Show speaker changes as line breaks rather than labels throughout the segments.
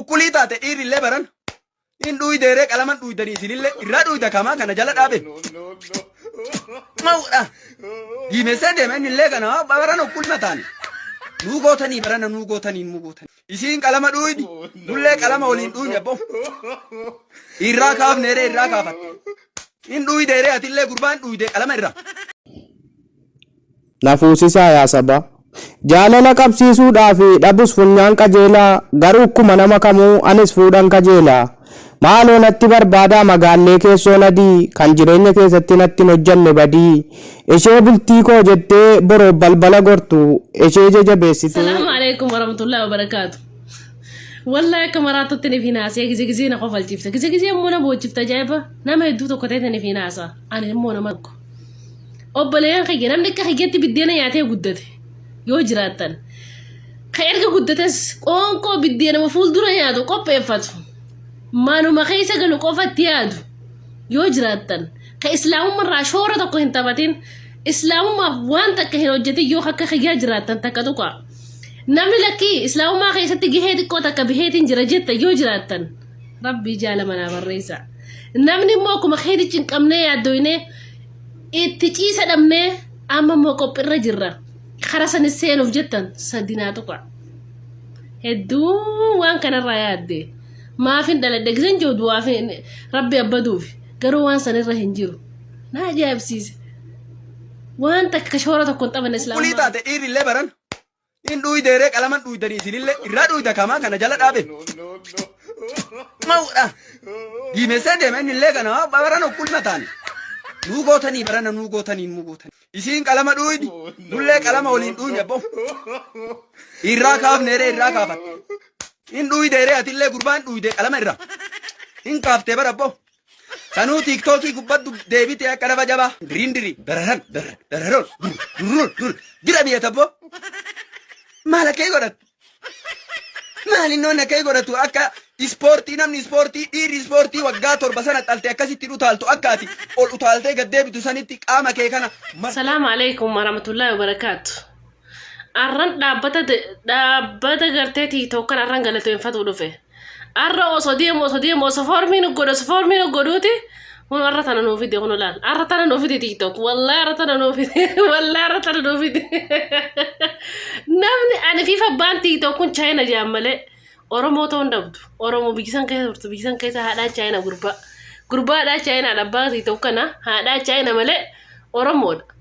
Ukkulii taate dhiirri illee baran. Hin dhuuydeeree qalaman dhuuydanii isinillee irraa dhuuyda kamaa kana jala dhaabe. Mawudha. Diimessee deema inni illee kana baran ukkulma taane. Nuu gootanii barana nuu gootanii nuu gootanii. Isiin qalama dhuuydi. Nullee qalama waliin dhuuyne abbo. Irraa kaafneeree irraa kaafatte. Hin dhuuydeeree atillee gurbaan dhuuyde qalama irraa. Na
fuusisaa yaa sabaa. Jaalala qabsiisuudhaa fi dhabus funyaan qajeela, garuu kkuma nama kamuu anis fuudhan kajeela. Maaloo natti barbaadaa magaallee keessoo nadii, kan jireenya keessatti natti hin hojjanne badii. Ishee bultii koo jettee boroof balbala gortu, eshee jajabeessitee. Salaam Aleekum
Waramatullaah Wabarakaatu Wallahi akka maraattutti ni finaasee gizee gizee na kofalchiifta gizee gizee immoo na boochifta ajaa'iba nama hedduu tokko ta'etti ni finaasa ani immoo nama tokko obboleeyyan kiyya namni akka kiyyatti biddeena nyaatee guddate yoo jiraattan ka erga guddates qoonqoo biddeenama fuuldura nyaatu qopheeffatu manuma keessa galu qofatti yaadu yoo jiraattan ka islaamummarraa shoora tokko hin taphatin islaamummaaf waan takka hin hojjetin yoo akka kiyyaa jiraattan takka tuqa namni lakkii islaamummaa keessatti gahee xiqqoo takka baheetiin jira jetta yoo jiraattan rabbii jaala manaa barreessa namni immoo akkuma keetichi hin qabnee yaaddoyne itti ciisa dhabnee amma immoo qophirra jirra kara sanis seenuuf jettan sadinaa tuqa hedduu waan kanarraa yaadde maafin dhaladhe gisan jiru du'aaf rabbi abbaduuf garuu waan sanirra hin jiru na ajaa'ibsiise waan takka shoora tokko hin taphane Qulqullii islaamummaa taate dhiirri illee baran
In dhuydee ree qalaman dhuydanii isinille irraa dhuyda kamaa kana jala dhaabe. Mawudha. Diimessee deema inni illee kana baran okkulma taane. Nuu gootanii barana nuu gootanii nuu gootanii. Isiin qalama dhuydi. Nullee qalama waliin dhuyne abbo. Irraa kaafne ree irraa kaafatte. In dhuydee ree atillee gurbaan dhuydee qalama irraa. In kaaftee bara abbo. Sanuu tiiktookii gubbaddu deebitee akka lafa jabaa diriin dirii dararan darra dararoon dur durruun dur dira biyya tabboo maal akka hin godhatu maal inni wanni akka hin godhatu akka ispoortii namni ispoortii dhiirri ispoortii waggaa torba sana xalte akkasitti hin utaaltu akka ati ol utaaltee gad deebitu sanitti qaama kee kana mar Salaamu alaikum
warahmatullahi wabarakaatu. Arran dhaabbata dhaabbata gartee tiiktookan arran galateeffatuu dhufe. Arra osoo deemu osoo deemu osoo foormii nu godhu osoo foormii nu godhuuti kun arra tana nuu fide kun laal arra tana nuu fide tiiktook wallaahi arra tana nuu fide wallaahi arra tana nuu fide namni ani fi fabbaan tiiktook kun chaayina jaan malee oromoo ta'uu hin dhabdu oromoo biyyisan keessa turtu biyyisan keessa haadhaa chaayina gurbaa gurbaa haadhaa chaayina abbaa tiiktook kana haadhaa chaayina malee oromoodha.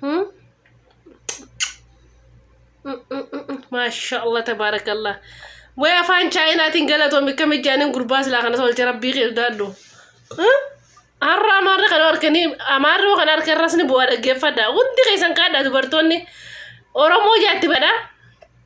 Hmm? Maashaallah tabaarakallah. Way afaan chaayinaatiin galatoomi akkam ijaanin gurbaa silaa kana tolche rabbii kee sodaadhu. Har'a amaarri kana harkanii amaarri kana harka irras ni bu'aa dhaggeeffadha. Hundi keessan kaadha dubartoonni Oromoo jaatti badha.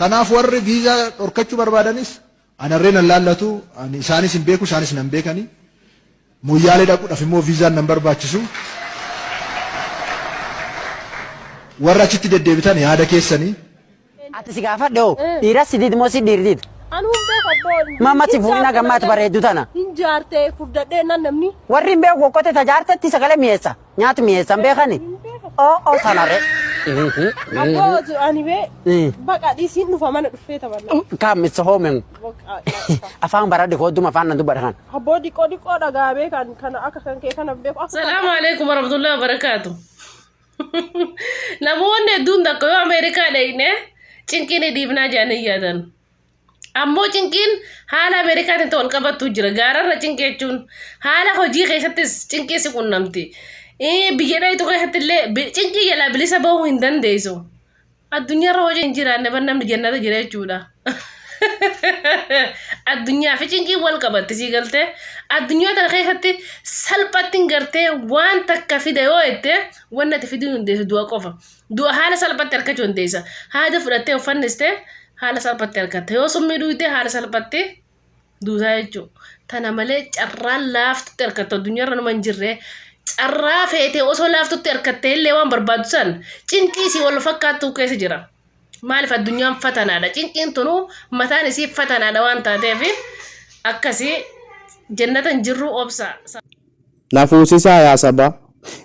Kanaaf
warri viizaa dhorkachuu barbaadanis anarree nan laallatu, ani isaanis hin beeku, isaanis nan beekani. Moyyaalee dhaquudhaaf immoo viizaan nan barbaachisu. Warra achitti deddeebitan yaada keessani. Ati si
gaafadhe hoo dhiiras si did moo si dhiir did? Anu hin beeku abboo.
Mamma si fuudhina gammaatti
bareeddu tana. Hin jaarte furdadhee
nan namni. Warri hin beeku kokkote
tajaartetti sagalee mi'eessa. Nyaati mi'eessan beekani? Oo oo sana re. Abboo
tu ani bee Eh. baqa dhisiin dhufa mana dhufee taphanna. Kaam isa hoomen. Baqa.
Afaan baradhe koodduma afaan nan dubbadha kan. Abboo diqoo diqoo
dhagaa bee kan kana akka kan kee kana beeku akka Salaamu alaikum warahmatullahi
wabarakatuh. Namoonni hedduun takka yoo Ameerikaa dhaqne cinqii ni dhiifnaa jedhanii yaadan. Ammoo cinqiin haala Ameerikaatiin wal qabattu jira. Gaararra cinqii jechuun haala hojii keessattis cinqii si qunnamti. Biyya dhayitu keessatti illee cinqii jalaa bilisa bahuu hin dandeessu. Addunyaarra hojii hin jiraanne bar namni jannata jira jechuudha. Addunyaa fi cinqiin wal qabatti sii galtee addunyaa tana keessatti salphatti hin gartee waan takka fida yoo jette waan natti fiduu hin dandeessu du'a qofa. Du'a haala salphatti argachuu dandeessa. Haada fudhattee of fannistee haala salphatti argatta. Yoo summii dhuydee haala salphatti duutaa jechuudha. Tana malee carraan laaftutti argatta addunyaarra nama hin jirre. Carraa feetee osoo laaftutti argattee illee waan barbaaddu san cinqii isii wal fakkaattuu keessa jira. Maaliif addunyaan fatanaadha. Cinqiin tunuu mataan isii fatanaadha waan taateef akkasii jennata hin jirru obsa. Na
fuusisaa yaa sabaa.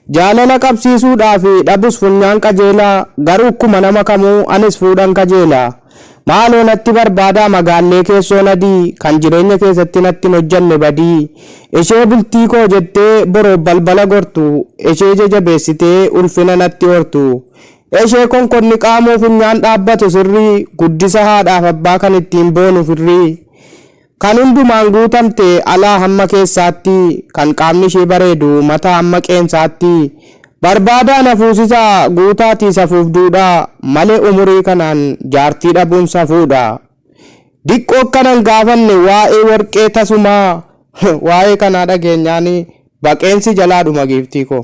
Jaalala qabsiisuu dhaa fi dhabus funyaan qajeela garuu kkuma nama kamuu anis fuudhan kajeela. Maaloo natti barbaadaa magaallee keessoon adii kan jireenya keessatti natti hin hojjanne badii. Ishee bultii koo jettee boroof balbala gortu eshee jajabeessitee ulfina natti hortu. Eshee konkonni qaamuu funyaan dhaabbatu sirrii guddisa haadhaaf abbaa kan ittiin boonu firrii. Kan hundumaan guutamte, alaa hamma keessaatti, kan qaamni ishee bareedu, mataa hamma qeensaatti, barbaadaa na fuusisa, guutaatii safuuf duudhaa, malee umurii kanaan jaartii dhabuun safuudha. Diqqoo akkana hin gaafanne waa'ee warqee tasumaa waa'ee kanaa dhageenyaan baqeen si jalaa dhuma giiftii koo.